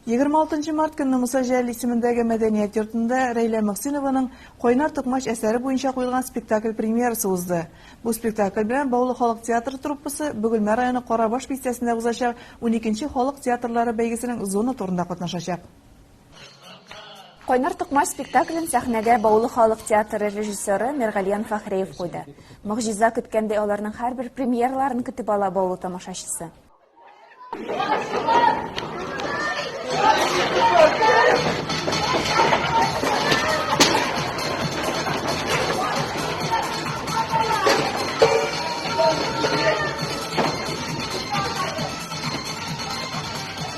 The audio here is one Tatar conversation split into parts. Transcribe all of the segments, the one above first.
Егерме алтынчы март көнне Муса Җәлил исемендәге мәдәният йортында Рәйлә Мөхсинованың Кайнар токмач әсәре буенча куелган спектакль премьерасы узды. Бу спектакль белән Баулы халык театры труппасы Бөгелмә районы Карабаш бистәсендә узачак уникенче халык театрлары бәйгесенең зона турында катнашачак. Кайнар тукмач спектаклен сәхнәгә Баулы халык театры режиссеры Миргалиан Фәхреев куйды. Могҗиза көткәндәй аларның һәрбер премьераларын көтеп ала Баулы тамашачысы.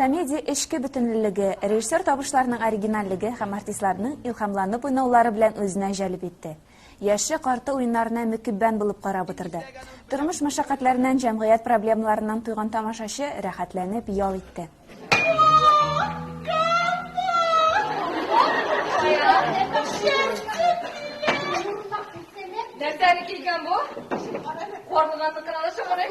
Комедия эчке бөтенлелеге, режиссер табышларының оригинальлеге һәм артистларның илһамланып уйнаулары белән үзенә җәлеп итте. Яше-карты уеннарына мөкиббән булып карап утырды. Тормыш мәшәкатьләреннән, җәмгыять проблемаларыннан туйган тамашачы рәхәтләнеп ял итте. Нәрсәне килгән бу? Карлыганныкына да чыгарыйк.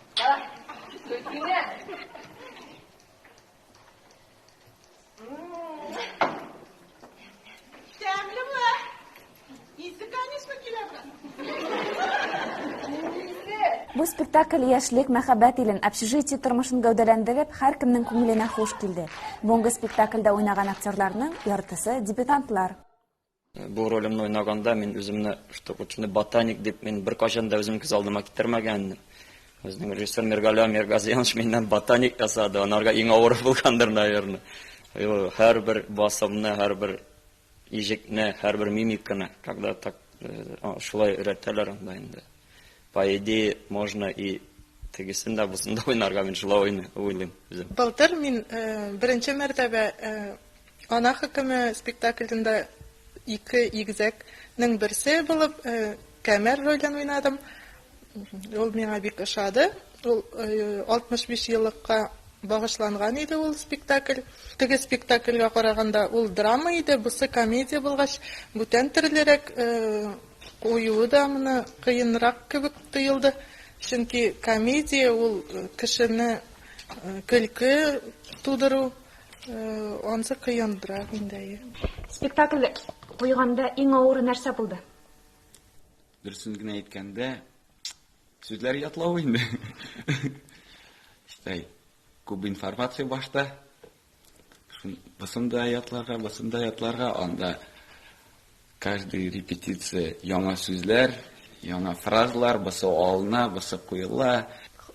Бу спектакль яшьлек мәхәббәт илен, общежитие тормышын гәүдәләндереп, һәркемнең күңеленә хуш килде. Бүгенге спектакльдә уйнаган актерларның яртысы дебютантлар. Бу ролемне уйнаганда мин үземне штукатурный ботаник дип мин беркайчан да үзем күз алдыма китермәгән идем. Безнең режиссер Миргалиан Миргазиянович миннән ботаник ясады, анарга иң авыры булгандыр, наверное. Һәрбер басымны, һәрбер иҗекне, һәрбер мимиканы, когда так э, шулай өйрәтәләр анда инде. По идее, можно и тегесен дә бусын да уйнарга мин шулай уйлыйм үзем. Былтыр мин э, беренче мәртәбә э, Ана хөкеме спектаклендә ике игезәк нең берсе булып Кәмәр ролен уйнадым. Ул миңа бик ошады. Ул 65 еллыкка багышланган иде ул спектакль. Теге спектакльгә караганда ул драма иде, бусы комедия булгач, бүтән төрлерәк, куюы да моны кыенрак кебек тоелды. Чөнки комедия ул кешене көлке тудыру. Ансы кыендрак инде. Спектакль куйганда иң авыры нәрсә булды? Дөресен генә әйткәндә, сүзләр ятлау инде. Шулай, күп информация башта. Шун бысында ятларга, бысында ятларга, анда Каждый репетиция яңа сүзләр, яңа фразалар, бысы алына, бысы куела.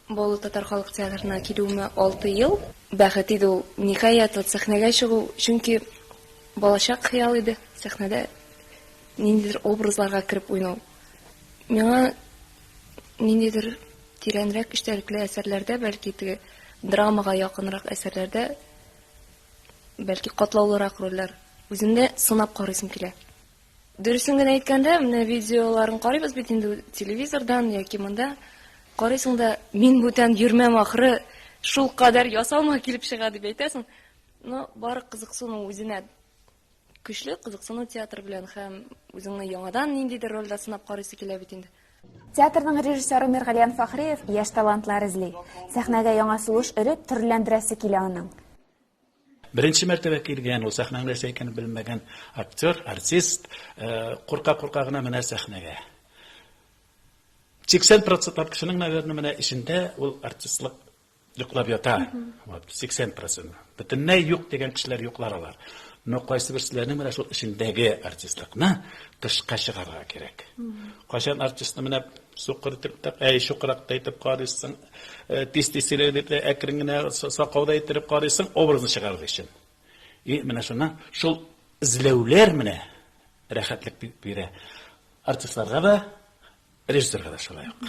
Баулы татар халык театрына килүемә алты ел. Бәхет иде ул, ниһаять, вот сәхнәгә чыгу, чөнки балачак хыял иде, сәхнәдә ниндидер образларга кереп уйнау. Миңа ниндидер тирәнрәк эчтәлекле әсәрләрдә, бәлки теге драмага якынрак әсәрләрдә Бәлки катлаулырак рольләр. Үзен дә сынап карыйсым килә. Дөресен генә әйткәндә, менә видеоларын карыйбыз бит инде телевизордан яки монда. Карыйсың да, мин бүтән йөрмәм ахры, шулкадәр ясалма килеп чыга дип әйтәсең. Но бары кызыксыну үзенә. Көчле кызыксыну театр белән һәм үзеңне яңадан ниндидер рольдә сынап карыйсы килә бит инде. Театрның режиссеры Миргалиян Фәхриев яшь талантлар эзли. Сәхнәгә яңа сулыш өреп, төрлеләндерәсе килә аның. Беренче мәртәбә килгән, ул сәхнәнең нәрсә икәнен белмәгән актер, артист курка-курка гына менә сәхнәгә. 80 процентлап кешенең, наверное, менә эчендә ул артистлык йоклап ята, вот, 80%. Бөтенләй юк дигән кешеләр йоклар алар. Но кайсы берсенең менә шул эчендәге артистлыкны тышка чыгарга кирәк. Кайчан артистны менә сукыр итеп тә, әй шукрак та итеп карыйсың, э, тиз-тиз сөйләр дип тә әкрен генә сакауда иттереп карыйсың, образны чыгарыр өчен. И менә шуны шул эзләүләр менә рәхәтлек бирә. Артистларга да, режиссерга да шулай ук.